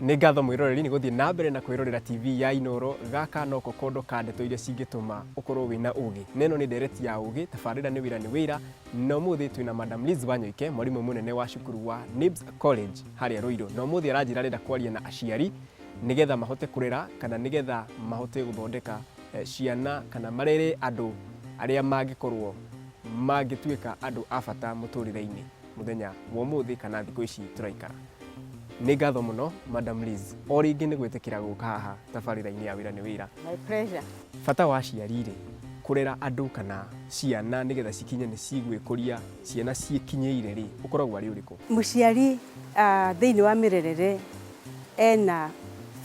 nĩ ngatho mwĩroreri nĩ gũthiĩ na mbere na kwĩrorera tv ya inoro gaka no kokondo ka ndeto iria cingĩtũma ũkorwo wĩna ũgĩ na ĩno nĩ ndereti ya ũgĩ tabarĩra nĩ wĩra nĩ wĩra na ũmũthĩ twĩ na madam liz wanyoike mwarimũ mũnene wa cukuru wa nibs college harĩa rũirũ na ũmũthĩ aranjĩra arenda kwaria na aciari nĩgetha mahote kũrera kana nĩgetha mahote gũthondeka eh, ciana kana marere andũ arĩa mangĩkorwo mangĩtuĩka andũ a bata mũtũrĩre-inĩ mũthenya wa ũmũthĩ kana thikũ ici tũraikara. Nĩ ngatho mũno Madam Liz o rĩngĩ nĩ gwĩtĩkĩra gũka haha tabarĩra-inĩ ya wĩra nĩ wĩra. My pleasure. Bata wa aciari rĩ, kũrera andũ kana ciana nĩgetha cikinye nĩ cigwĩkũria ciana ciĩkinyĩire rĩ, ũkoragwo arĩ ũrĩkũ? Mũciari ah, thĩinĩ wa mĩrerere ena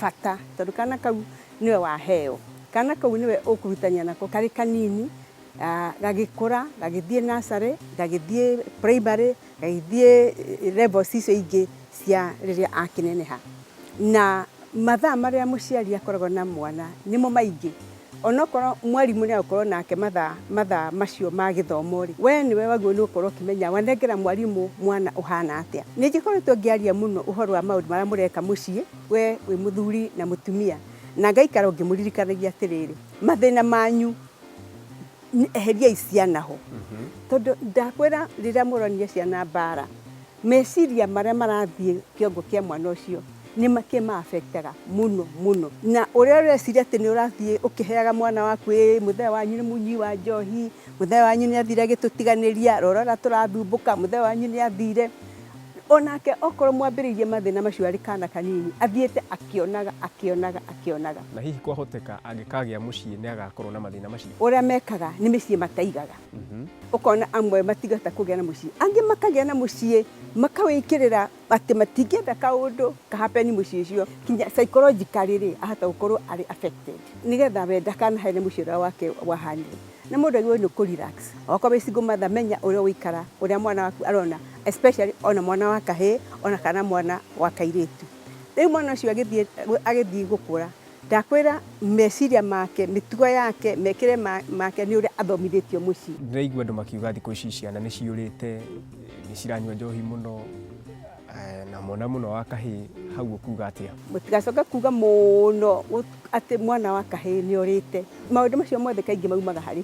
bata tondũ kana kau nĩwe waheo, kana kau nĩwe ũkũrutania nako karĩ kanini Gagĩkũra, gagĩthiĩ nursery, gagĩthiĩ primary, gagĩthiĩ levels icio ingĩ cia rĩrĩa akĩneneha. Na mathaa marĩa mũciari akoragwo na mwana nĩmo maingĩ. Onokorwo mwarimũ nĩ agũkorwo nake mathaa, mathaa macio ma gĩthomo rĩ, we nĩwe wagĩrĩirwo nĩ gũkorwo ũkĩmenya wanengera mwarimũ mwana ũhana atĩa. Ningĩ ngoretwo ngĩaria mũno ũhoro wa maũndũ marĩa mũreka mũciĩ we wĩ mũthuri na mũtumia, na ngaikara o ngĩmũririkanagia atĩrĩrĩ, mathĩna manyu. Nĩ- eheriai ciana ho tondũ ndakwĩra rĩrĩa mũronia ciana mbara meciria marĩa marathiĩ kĩongo kĩa mwana ũcio nĩ makĩmaabektaga mũno mũno na ũrĩa ũreciria atĩ nĩ ũrathiĩ ũkĩheaga mwana waku ĩ mũthee wanyu nĩ mũnyui wa njohi mũthee wanyu nĩ athire agĩtũtiganĩria rora ũrĩa tũrathumbũka mũthee wanyu nĩ athire O nake okorwo mwambĩrĩirie mathĩna macio arĩ kaana kanini, athiĩte akĩonaga, akĩonaga, akĩonaga. Na hihi kwahoteka angĩkagĩa mũciĩ nĩ agakorwo na mathĩna macio? Ũrĩa mekaga nĩ mĩciĩ mataigaga. Ũkona amwe matigahota kũgĩa na mũciĩ. Angĩ makagĩa na mũciĩ, makawĩkĩrĩra atĩ matingĩenda kaũndũ ka happen mũciĩ ũcio. Kinya psychologically rĩ, ahota gũkorwo arĩ affected. Nĩgetha we ndakanahe nĩ mũciĩ ũrĩa wake wahanire. Nĩ mũndũ agĩrĩirwo nĩ kũ relax. Okorwo wĩ single mother menya ũrĩa ũgũikara, ũrĩa mwana waku arona, especially ona mwana wa kahĩĩ, ona kana mwana wa kairĩtu. Rĩu mwana ũcio agĩthiĩ agĩthiĩ gũkũra, ndakwĩra meciria make, mĩtugo yake, mekĩre make nĩ ũrĩa athomithĩtio mũciĩ. Ndĩraigua andũ makiuga thikũ ici ciana nĩ ciũrĩte, nĩ ciranyua njohi mũno. Eh, na mwana mũno wa kahĩĩ hau ũkuga atĩa mũtigacoke kuga mũno atĩ mwana wa kahĩĩ nĩ orĩte maũndũ macio mothe kaingĩ maumaga harĩ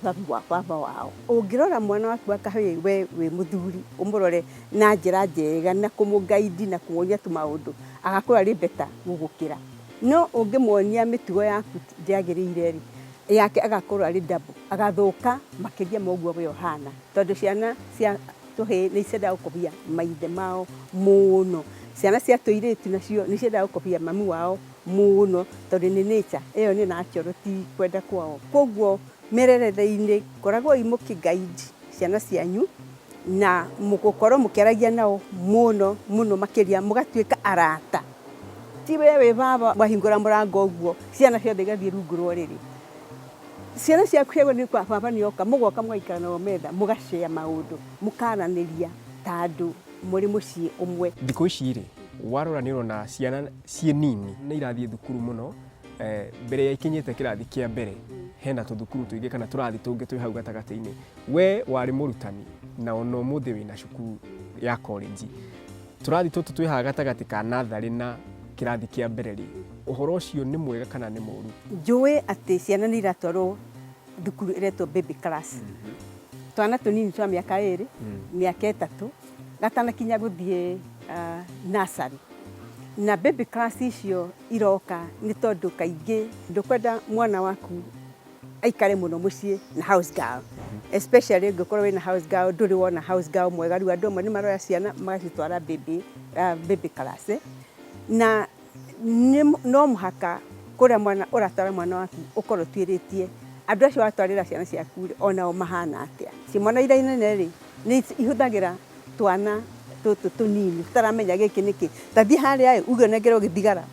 baba wao ũngĩrora mwana waku wa kahĩĩ we wĩ mũthuri ũmũrore na njĩra njega na kũmũgaidi na kũmuonia tũmaũndũ agakorwo arĩ beta gũgũkĩra no ũngĩmuonia mĩtugo yaku ndĩagĩrĩire rĩ yake agakorwo arĩ ndabu agathũka makĩria moguo we ũhana tondũ ciana cia Tũhĩĩ nĩ ciendaga gũkobia maithe mao mũno. Ciana cia tũirĩtu nacio nĩ ciendaga gũkobia mami wao mũno tondũ nĩ nature ĩyo nĩ natural ti kwenda kwao. Kwoguo mĩrerere-inĩ koragwoi mũkĩ guide ciana cianyu na gũkorwo mũkĩaragia nao mũno mũno makĩria mũgatuĩka arata. Ti we wĩ baba wahingũra mũrango ũguo ciana ciothe igathiĩ rungu rwa ũrĩrĩ. Ciana ciaku cia gwĩthĩ kwa baba nĩ oka, mũgoka mũgaikara nao metha, mũgacea maũndũ, mũkaranĩria ta andũ mũrĩ mũciĩ ũmwe. Thikũ ici rĩ, warora nĩ ũrona ciana ciĩ nini nĩ irathiĩ thukuru mũno, mbere ya ikinyĩte kĩrathi kĩa mbere, hena tũthukuru tũingĩ kana tũrathi tũngĩ twĩ hau gatagatĩ-inĩ. We warĩ mũrutani na ona ũmũthĩ wĩna cukuru ya korĩnji. Tũrathi tũtũ twĩ haha gatagatĩ ka natharĩ na kĩrathi kĩa mbere-rĩ, ũhoro ũcio nĩ mwega kana nĩ mũru? Njũĩ atĩ ciana nĩ iratwarwo thukuru ĩretwo baby class. Twana tũnini twa mĩaka ĩrĩ, mĩaka ĩtatũ, gatanakinya gũthiĩ nursery. Na baby class icio iroka nĩ tondũ kaingĩ ndũkwenda mwana waku... aikare muno mucii na house girl especially ungikorwo wina house girl nduri wona house girl mwega riu andu amwe ni maroya ciana magacitwara baby uh, baby class eh? na no muhaka kuria mwana uratwara mwana waku ukorwo twiritie andu acio watwarira ciana ciaku ri onao mahana atia ci mwana ira inene ri ni ihuthagira twana tutu tunini taramenya giki niki tathie haria uge nengere ugithigara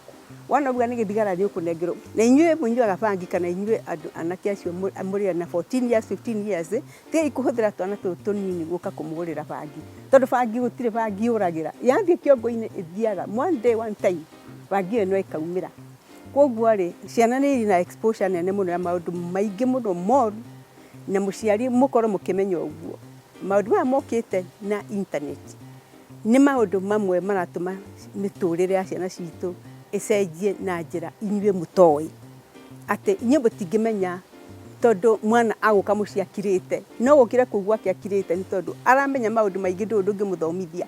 Wona ũguo nĩ gĩthigara rĩũkũnengerwo. Na inyuĩ mũnyuaga bangi kana inyuĩ andũ anake acio mũrĩ na 14 years, 15 years, tigai kũhũthĩra twana tũtũ tũnini gũka kũmũgũrĩra bangi. Tondũ bangi gũtirĩ bangi yũragĩra. Yathiĩ kĩongo-inĩ ĩthiaga one day, one time bangi ĩyo no ĩkaumĩra. Kwoguo rĩ, ciana nĩ irĩ na exposure nene mũno ya maũndũ maingĩ mũno moru, na mũciari mũkorwo mũkĩmenya ũguo. Maũndũ maya mokĩte na intaneti. Nĩ maũndũ mamwe maratũma mĩtũrĩre ya ciana citũ ĩcenjie na njĩra inyuĩ mũtoĩ. Atĩ inyuĩ mũtingĩmenya tondũ mwana agũka mũciĩ akirĩte, no gũkĩra kũu gwake akirĩte nĩ tondũ aramenya maũndũ maingĩ ndũĩ ndũngĩmũthomithia.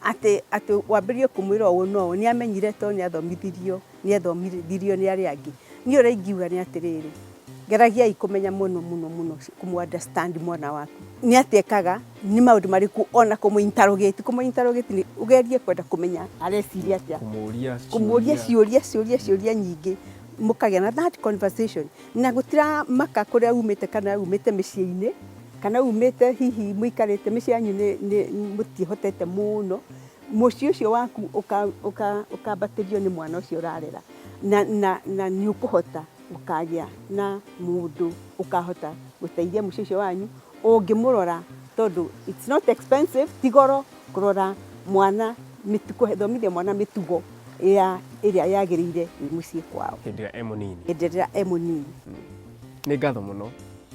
Atĩ atĩ wambĩrĩrie kũmwĩra ũũ na ũũ nĩ amenyire tondũ nĩ athomithirio. nĩ ethomithirio nĩ arĩa angĩ. Niĩ ũrĩa ingiuga nĩ atĩrĩrĩ, geragiai kũmenya mũno mũno mũno kũmũ understand mwana waku. Nĩ atĩa ekaga, nĩ maũndũ marĩkũ ona kũmũ interrogate, kũmũ interrogate nĩ ũgerie kwenda kũmenya areciria atĩa. Kũmũria ciũria ciũria ciũria nyingĩ mũkagĩa na that conversation. Na gũtiramaka kũrĩa umĩte kana umĩte mĩciĩ-inĩ, kana umĩte hihi mũikarĩte mĩciĩ yanyu nĩ nĩ mũtiĩhotete mũno. Mũciĩ ũcio waku ũkambatĩrio nĩ mwana ũcio ũrarera, na nĩ ũkũhota gũkagĩa na mũndũ ũkahota gũteithia mũciĩ ũcio wanyu ũngĩmũrora tondũ it's not expensive, ti goro kũrora mwana, gũthomithia mwana mĩtugo ĩrĩa yagĩrĩire wĩ mũciĩ kwao. Hĩndĩ ĩrĩa e mũnini. Hĩndĩ ĩrĩa e mũnini. Nĩ ngatho mũno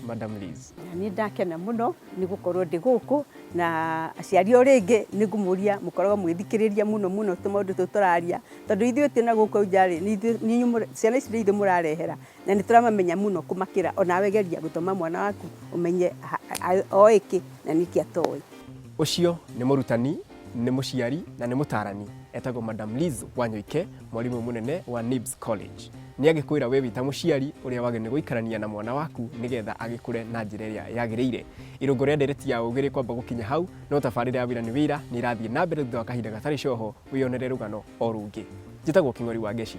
Madam Liz. Na niĩ ndakena mũno nĩ gũkorwo ndĩ gũkũ. Na aciari o rĩngĩ nĩ ngũmũria mũkoragwo mũgĩthikĩrĩria mũno mũno tũmaũndũ tũtũ tũraria, tondũ ithuĩ twĩ na gũkũ nja rĩ, ciana ici nĩ ithuĩ mũrarehera, na nĩ tũramamenya mũno kũmakĩra. O nawe geria gũthoma mwana waku ũmenye oĩ kĩ na nĩ kĩ atoĩ. Ũcio nĩ mũrutani, nĩ mũciari na nĩ mũtaarani. Etagwo Madam Liz Wanyoike. Mwarimũ mũnene wa NIBS College nĩ agĩkwĩra we wĩta mũciari ũrĩa wagĩrĩirwo gũikarania na mwana waku nĩgetha agĩkũre na njĩra ĩrĩa yagĩrĩire. Irũngo rĩa ndereti ya ũgĩ rĩkwamba gũkinya hau, no tabarĩra ya wĩra nĩ wĩra nĩ ĩrathiĩ na mbere thutha wa kahinda gatarĩ coho wĩyonere rũgano o rũngĩ. Njĩtagwo Kĩng'ori wa Ngeci.